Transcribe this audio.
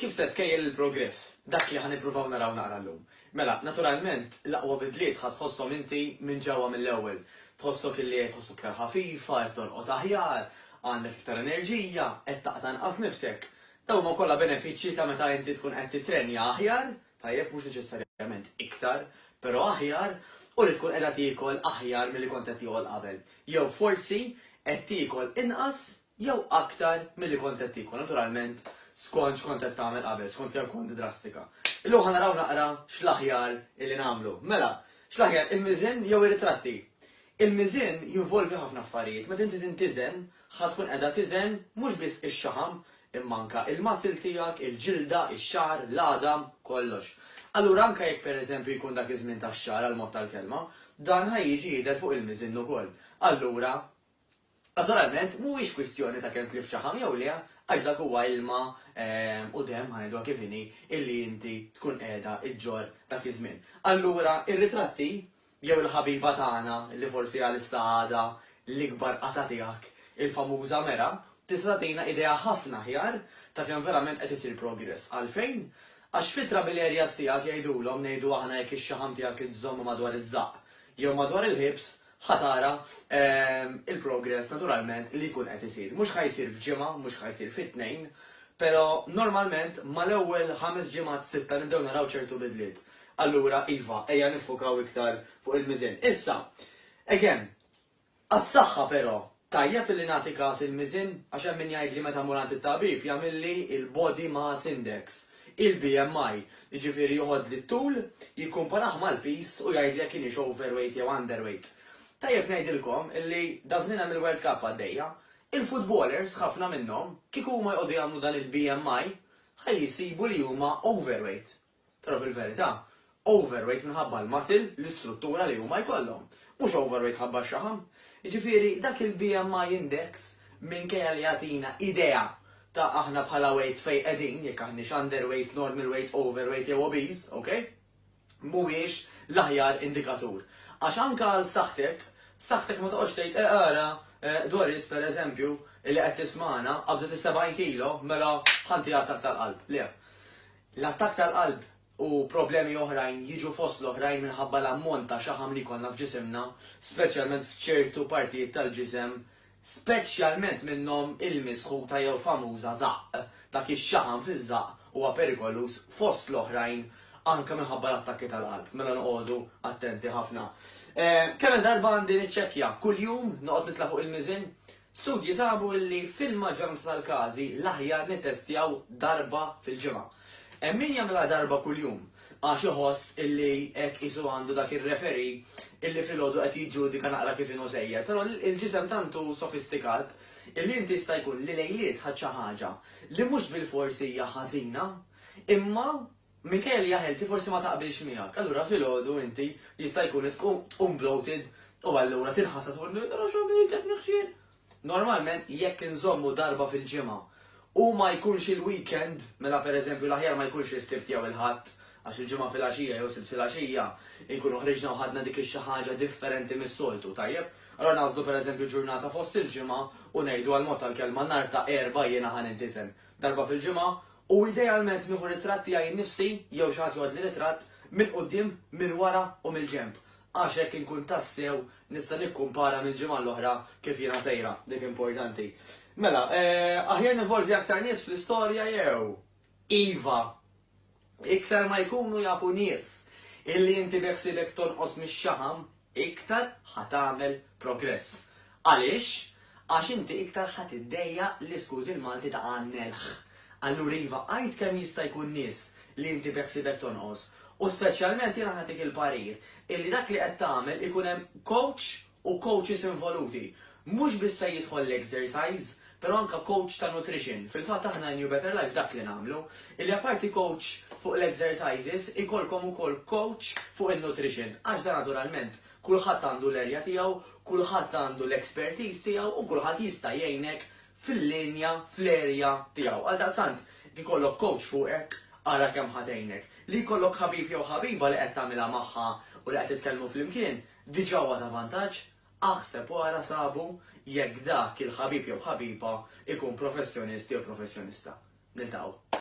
Kif se tkejjel il-progress? Dak li ħa nippruvaw naraw naqra llum. Mela, naturalment, l-aqwa bidliet ħa tħosshom inti minn ġewwa mill-ewwel. Tħossok illi qed tħoss iktar ħafifa, qed torqod aħjar, għandek iktar enerġija, qed taqta' inqas nifsek. Dawn huma kollha benefiċċji ta' meta inti tkun qed tittrenja aħjar, tajjeb, mhux neċessarjament iktar, però aħjar, u li tkun qiegħda tiekol aħjar milli kont qed tiekol qabel. Jew forsi qed tiekol inqas jew aktar milli kont qed tiekol, naturalment skont x'kont qed tagħmel qabel, skont kemm kont drastika. Illum ħa naraw naqra x'l-aħjar illi nagħmlu. Mela, x'l-aħjar, il-miżen jew ir-ritratti? Il-miżen jinvolvi ħafna affarijiet, meta inti tintiżen ħa tkun qiegħda tiżen mhux biss ix-xaħam imma anke l-muscle tiegħek, il-ġilda, ix-xagħar, l-għadam, kollox. Allura anke jekk pereżempju jkun dak iż-żmien tax-xagħar għall-mod tal-kelma, dan ħa jiġi jidher fuq il-miżen ukoll. Allura Naturalment, mhuwiex kwistjoni ta' kemm tlift xaħam jew le, għax dak huwa ilma u demm, ħa ngħiduha kif inhi, illi inti tkun qiegħda ġġorr dak iż-żmien. Allura, ir-ritratti, jew il-ħabiba tagħna, li forsi għalissa għadha l-ikbar qatgħa tiegħek, il-famuża mera, tista' tagħtina idea ħafna aħjar ta' kemm verament qed isir progress. Għalfejn? Għax fit-trouble areas tiegħek jgħidulhom, ngħidu aħna jekk ix-xaħam tiegħek iżżommu madwar iż-żaqq jew madwar il-ħiebs, ħa tara il-progress naturalment li jkun qed isir. Mhux ħa jsir f'ġimgħa, mhux ħa jsir fi tnejn, però normalment mal-ewwel ħames ġimgħat sitta nibdew naraw ċertu bidliet. Allura iva, ejja niffukaw iktar fuq il-miżien. Issa, again, għas-saħħa però, Tajjeb li nagħti kas il-miżien għax hemm min jgħidli meta mmur għand it-tabib jagħmilli l-body mass index, il-BMI, jiġifieri joħodli t-tul, jikkumparah mal-piż u jgħidli jekk inix overweight jew underweight. Tajjeb ngħidilkom li daż-żmien hemm il-World Cup għaddejja. Il-footballers, ħafna minnhom, kieku huma jqogħdu jagħmlu dan il-BMI, ħa jsibu li huma overweight. Però fil-verità, overweight minħabba l-muscle, l-istruttura li huma jkollhom. Mhux overweight mħabba x-xaħam. Jiġifieri dak il-BMI index minkejja li jagħtina idea ta' aħna bħala weight fejn qegħdin, jekk aħniex underweight, normal weight, overweight jew obese, ok? Mhuwiex l-aħjar indikatur. Għax anke għal saħħtek, saħħtek ma toqgħodx tgħid eh ara, eh, Doris per eżempju, li qed tismagħna, qabżet is-70 kilo, mela ħanti għadd aktar qalb. Le. L-attakk tal-qalb u problemi oħrajn jiġu fost l-oħrajn minħabba l-ammont ta' xaħam li jkollna f'ġisimna, speċjalment f'ċertu partijiet tal-ġisem, speċjalment minnhom il-misħuta jew famuża żaqq. Dak ix-xaħam fiż-żaqq huwa perikoluż fost l-oħrajn anke minħabba l-attakki tal-qalb, mela noqogħdu attenti ħafna. Kemm-il darba għandi niċċekkja? Kuljum? Noqgħod nitla' fuq il-miżien? Studji sabu li fil-maġġoranza tal-każi l-aħjar nittestjaw darba fil-ġimgħa. Hemm min jagħmilha darba kuljum għax iħoss illi hekk qisu għandu dak ir-referee illi filgħodu qed jiġġudika naqra kif inhu sejjer. Però l-ġisem tant hu sofistikat illi inti jista' jkun li lejliet ħadt xi ħaġa li mhux bilfors hija ħażina imma Minkejja li jaf inti forsi ma taqbilx miegħek, allura filgħodu inti jista' jkun li tqum bloated u allura tinħassa tqul li nara x'għamilt qed niħxien. Normalment jekk inżommu darba fil-ġimgħa u ma jkunx il-weekend, mela pereżempju l-aħjar ma jkunx is-Sibt jew il-Ħadd għax il-Ġimgħa filgħaxija jew Sibt filgħaxija nkunu ħriġna u ħadna dik ix-xi ħaġa differenti mis-soltu, tajjeb? Allura nagħżlu pereżempju ġurnata fost il-ġimgħa u ngħidu għall-mod tal-kelma nhar ta' Erbgħa jiena ħa nintiżen. darba fil-ġimgħa, u idealment nieħu ritratt tiegħi nnifsi jew xi ħadd joħodli ritratt, mill-quddiem, minn wara u mill-ġenb, għax hekk inkun tassew nista' nikkumpara mill-ġimgħa għall-oħra kif jiena sejra, dik importanti. Mela, aħjar ninvolvi aktar nies fl-istorja jew? Iva. Iktar ma jkunu jafu nies illi inti beħsiebek tonqos mix-xaħam, iktar ħa tagħmel progress. Għaliex? Għax inti iktar ħa tiddejjaq li skużi l-Malti ta' għan-nelħ. Allura iva għid kemm jista' jkun nies li inti beħsiebek tonqos u speċjalment jiena nagħtik il-parir illi dak li qed tagħmel ikun hemm coach u coaches involuti. Mhux biss fejn jidħol l-exercise, pero anka coach ta' nutrition. Fil-fatt aħna in You Better Life dak li nagħmlu, illi apparti coach fuq l-exercises, ikollkom ukoll coach fuq in-nutrition. Għax dan naturalment kulħadd għandu l-area tiegħu, kulħadd għandu l-expertise tiegħu u kulħadd jista' jgħinek fil-linja, fl-area tiegħu. Għaldaqstant, jekk ikollok coach fuqek, ara kemm ħa tgħinek. Li jkollok ħabib jew ħabiba li qed tagħmilha magħha u li qed titkellmu flimkien, Diġà huwa ta' vantaġġ? Aħseb u ara sabu jekk dak il-ħabib jew ħabiba jkun professjonist jew professjonista. Niltaqgħu.